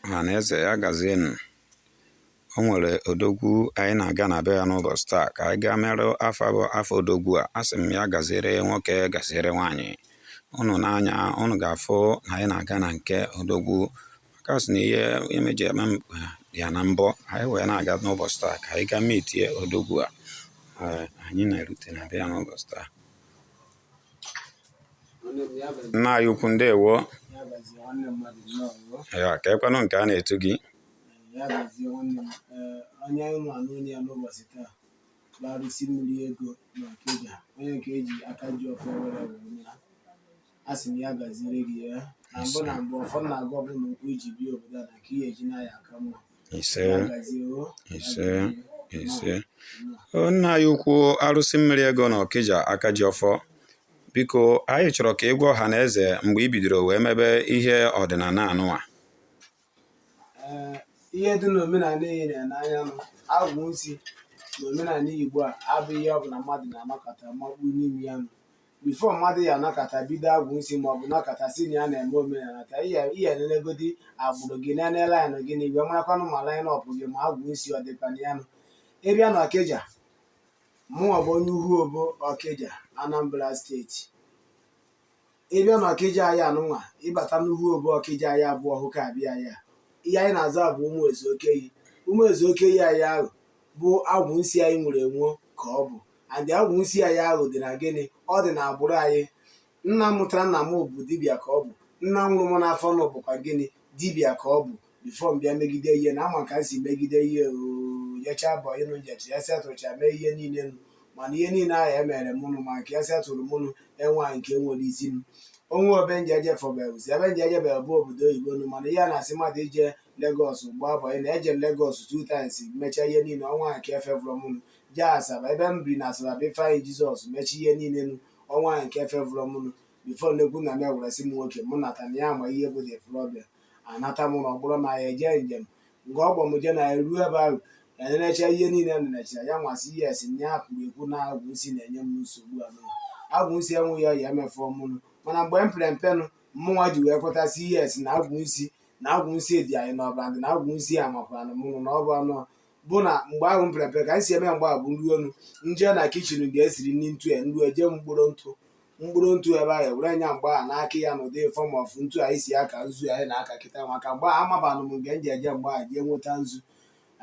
Ọhaneze ya gazienụ. O nwere odogwu anyị na-aga na be ya n'ụbọchị taa ka anyị gaa marụ afa bụ afa odogwu a. Asị m ya gaziere nwoke gaziere nwaanyị. Unu n'anya unu ga-afụ na anyị na-aga na nke odogwu maka sị na ihe ime ji eme ya na mbọ anyị wee na-aga n'ụbọchị taa ka anyị gaa mitie odogwu a. Anyị na-erute na be ya n'ụbọchị taa. nna anyị ukwu ndewo ya kee kwanụ nke a na-etu gị ya gazie nwanne m ee onye anyị nọ n'ụlọ ya n'ụbọchị taa bụ arụsị mmiri ego na ọkịja onye nke eji aka ji ọfọ were were mara a sị m ya gaziere gị ya na mbụ na mbụ ọfọ m na-agọ bụ na okwu iji bịa obodo a na ka ihe eji na ya aka mma ise ise ise nna anyị ukwu arụsị mmiri ego na ọkịja aka ji ọfọ biko anyị chọrọ ka ịgwa ọha na eze mgbe i bidoro wee mebe ihe ọdịnala anụwa ihe dị n'omenala nyere n'anya nụ agwụ nsi n'omenala igbo a abụghị ihe ọbụla mmadụ na-anọkata makpu n'ime ya nụ before mmadụ ya-anọkata bido agwụ nsi ma ọ bụ nọkata sị na ya na-eme omenala ka ihe ihe nenegodi agbụrụ gị nene line gị na igwe marakwanụ ma line up gị ma agwụ nsi ọ dịkwa na ya nụ ịbịa na ọkịja mụnwa bụ onye uhu obo ọkịja anambra steeti ịbịa na ọkịja anyị anụnwa ịbata n'uhu obo ọkịja anyị abụọ hụ ka abịa anyị a ihe anyị na-aza bụ ụmụ ezu okeyi ụmụ ezu okeyi anyị ahụ bụ agwụ nsi anyị nwere enwe ka ọ bụ and agwụ nsi anyị ahụ dị na gịnị ọ dị na agbụrụ anyị nna mụtara nna m bụ dibịa ka ọ bụ nna mụrụ m n'afọ nọ bụkwa gịnị dibịa ka ọ bụ before m bịa megide ihe na ama ka m si megide ihe m jecha bọyị nụ m jechaa e setụrụcha mee ihe niile nụ mana ihe niile ahụ e mere mụnụ ma nke e setụrụ mụnụ enwe nke nwere isi m o nwe ebe nje eje fọbelụzi ebe nje ejebel bụ obodo oyibo nụ mana ihe a na-asị mmadụ ije lagos gbaa bọyị na eje lagos two times mechaa ihe niile o nwe nke fevụrụ mụnụ je asaba ebe m biri na asaba bụ infant jesus mechaa ihe niile nụ o nwehụ nke fevụrụ m nụ before nnekwu nna m ewere sị m nwoke mụ nata na ya ma ihe bụ the problem anata m na ọ bụrụ na ya eje njem nke ọ m je na ya ruo ebe ahụ na-enecha ihe niile m nechara ya nwasị ihe esi nye ya kwuru ekwu na agwụ nsi na-enye m nsogbu anụ agwụ nsi enweghị ihe ya-eme favour mụnụ mana mgbe m pere mpe nụ mmụnwa ji wee kwetasị ihe esi na agwụ nsi na agwụ nsi dị anyị n'ọbara and na agwụ nsi a makwaranụ mụnụ na ọ bụ anụ bụ na mgbe ahụ m pere mpe ka anyị si eme ya mgbe ahụ bụ nruo nụ nje na kitchen nga esiri nri ntu ya nru eje mkporo ntụ mkporo ntụ ebe ahụ ewere m ya mgbe ahụ na-aka ya n'ụdị form of ntu anyị si aka nzu anyị na-aka kịta maka mgbe ahụ amabanụ m nke m ji eje mgbe ahụ jee nweta nzu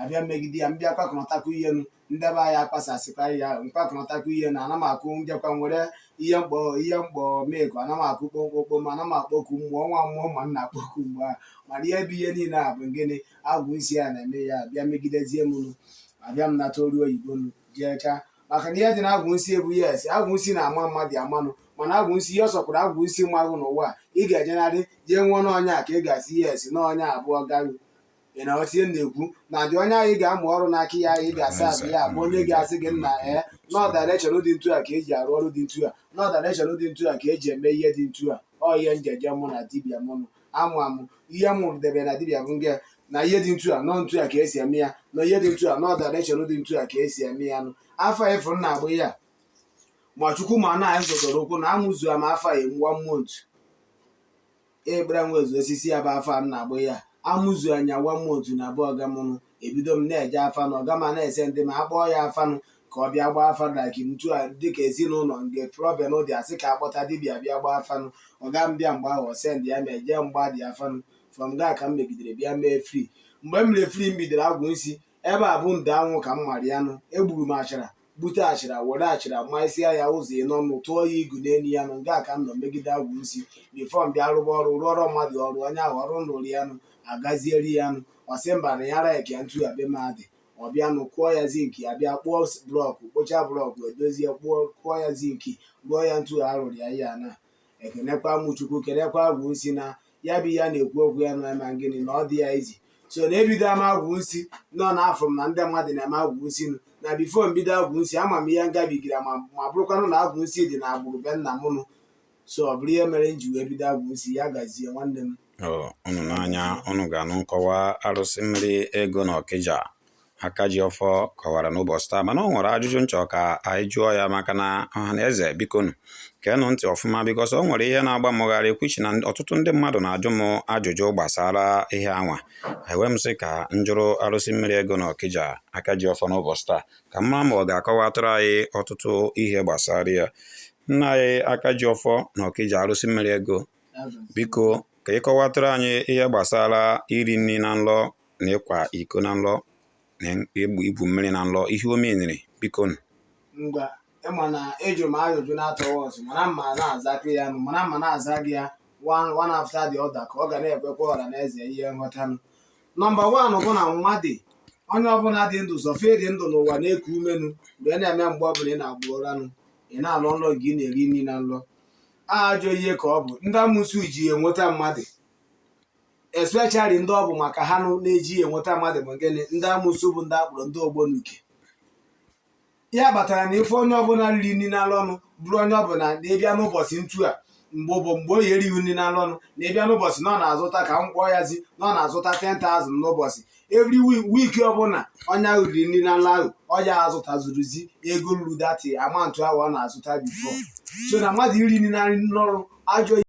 abịa megide ya mbịa kpakọnọtakụ ihe nụ ndị be anyị akpasasịkwa ihe ahụ mkpakọnọtakụ ihe na ana m akụ njekwa nwere ihe mkpọ ihe mkpọ meko ana m akụ kpomkpokpo ma ana m akpọku mmụọ nwa mmụọ ma m na-akpọku mgbe ahụ mana ihe bụ ihe niile a bụ gịnị agwụ nsị ya na-eme ya bịa megidezie m nụ abịa m nata ọrụ oyibo nụ jee chaa maka na ihe dị na agwụ nsị ebu ya esi agwụ nsị na-ama mmadụ amanụ mana agwụ nsị ihe ọ sọkwara agwụ nsị ma gị n'ụwa a ị ga-ejenarị jee mụọ n'onye a ka ị ga-asị ya esi na onye a bụ ọga gị ị na-aghọta ihe m na-ekwu na dị onye ahụ ị ga-amụ ọrụ n'aka ya ị ga-asị abụ ya bụ onye ga-asị gị nna ee nọọ direction dị ntu a ka eji arụ ọrụ dị ntu a nọọ direction dị ntu a ka eji eme ihe dị ntu a ọ ihe nji je mụ na dibịa mụnụ amụ amụ ihe m debe na dibịa bụ nga na ihe dị ntu a nọ ntu a ka esi eme ya na ihe dị ntu a nọ direction dị ntu a ka esi eme ya nụ afa a ị fụrụ m na-agba ya ma chukwu ma na anyị zọdoro ụkwụ na amụzu ama afọ a emuwa mmụọ ntu ekpere nwezu osisi ya bụ afa m na-agba ya amụzu anya wa mmụọ ntu na abụ ọga mụ nụ ebido m na-eje afanụ ọga m na-esendi m ma akpọọ ya afanụ ka ọ bịa gbaa afa like ntu a dịka ezinụlọ nke problem dị asị ka akpọta dibịa bịa gbaa afanụ ọga m bịa mgbe ahụ ọ sendia m eje m gbaa dị afanụ from nga a ka m megidere bịa mee free mgbe m mere free m bidoro agwụ nsi ebe a bụ ndo anwụ ka m mara ya nụ egburu m achara gbute achara were achara maịsịa ya ụzọ ịnọ nụ tụọ ya igu n'elu ya nụ nga a ka m nọ megide agwụ nsi before m bịa rụba ọrụ rụọrọ mmadụ ọrụ onye ahụ ọrụ nrụrụ ya nụ agazieri ya nụ ọsị mba na ya like ya ntu a be m a dị ọ bịa nụ kụọ ya zinki ya bịa kpụọ blọkụ kpụcha blọkụ edozie kpụọ kụọ ya zinki rụọ ya ntu a rụrụ ya ya na ekenekwa mụ chukwu kenekwa agwụ nsi na ya bụ ihe a na-ekwu okwu ya na ma gịnị na ọ dị ya iji so na ebido ama agwụ nsi nụ na afụrụ m na ndị mmadụ na-eme agwụ nsi nụ na before mbido agwụ nsi ama m ihe ngabigara ma ọ bụrụkwanụ na agwụ nsi dị na agbụrụ be nna m nụ so ọ bụrụ ihe mere m ji wee bido agwụ nsi ya gazie nwanne m Ọ, unu n'anya unu ga-anụ nkọwa arụsị mmiri ego na ọkịja Akajiọfọ kọwara n'ụbọchị taa mana ọ nwere ajụjụ nchọ ka anyị jụọ ya maka na ọha na eze bikonụ geenụ ntị ọfụma because o nwere ihe na-agba mụ gharịị which na ọtụtụ ndị mmadụ na-ajụ m ajụjụ gbasara ihe anwa e wee m sị ka njụrụ arụsị mmiri ego na ọkija Akajiọfọ n'ụbọchị taa ka m ma ma ọ ga-akọwatụrụ anyị ọtụtụ ihe gbasara ya nna anyị Akajiọfọ na ọkija arụsị mmiri ego biko ka ịkọwatụrụ anyị ihe gbasara iri nri na nlọ na ịkwa iko na nlọ na igbu igwu mmiri na nlọ ihe o menyere biko nụ ngwa ịma na ejụrụ m ajụjụ na-atọghị ọzọ mana m ma na-azapụ ya nụ mana m ma na-aza gị ya one one after the other ka ọ ga na-ekwekwa ọra na eze ihe nghọtanụ number one bụ na mmadụ onye ọbụla dị ndụ so far ị dị ndụ n'ụwa na-eku ume nụ mgbe ị na-eme mgbe ọbụla ị na-agba ụranụ ị na-alọ nlọ gị ị na-eri nri na nlọ ajọ ihe ka ọ bụ ndị amosu ji ya enweta mmadụ especially ndị ọ bụ maka ha nụ na-eji enweta mmadụ ma gịnị ndị amosu bụ ndị a kpọrọ ndị ọgbọ n'uke ya kpatara na ife onye ọbụla riri nri na nlọ nụ bụrụ onye ọbụla na ịbịa n'ụbọchị ntu a mgbe ụbọ mgbe o ye erihu nri na nlọ nụ na ịbịa n'ụbọchị na ọ na-azụta ka m kpọọ ya zi na ọ na-azụta 10,000 n'ụbọchị every week week ọbụla onye ahụ riri nri na nlọ ahụ ọ ya azụtazuruzi ego ruru that amount ahụ ọ na-azụta before so na mmadụ iri nri na nlọ bụ ajọ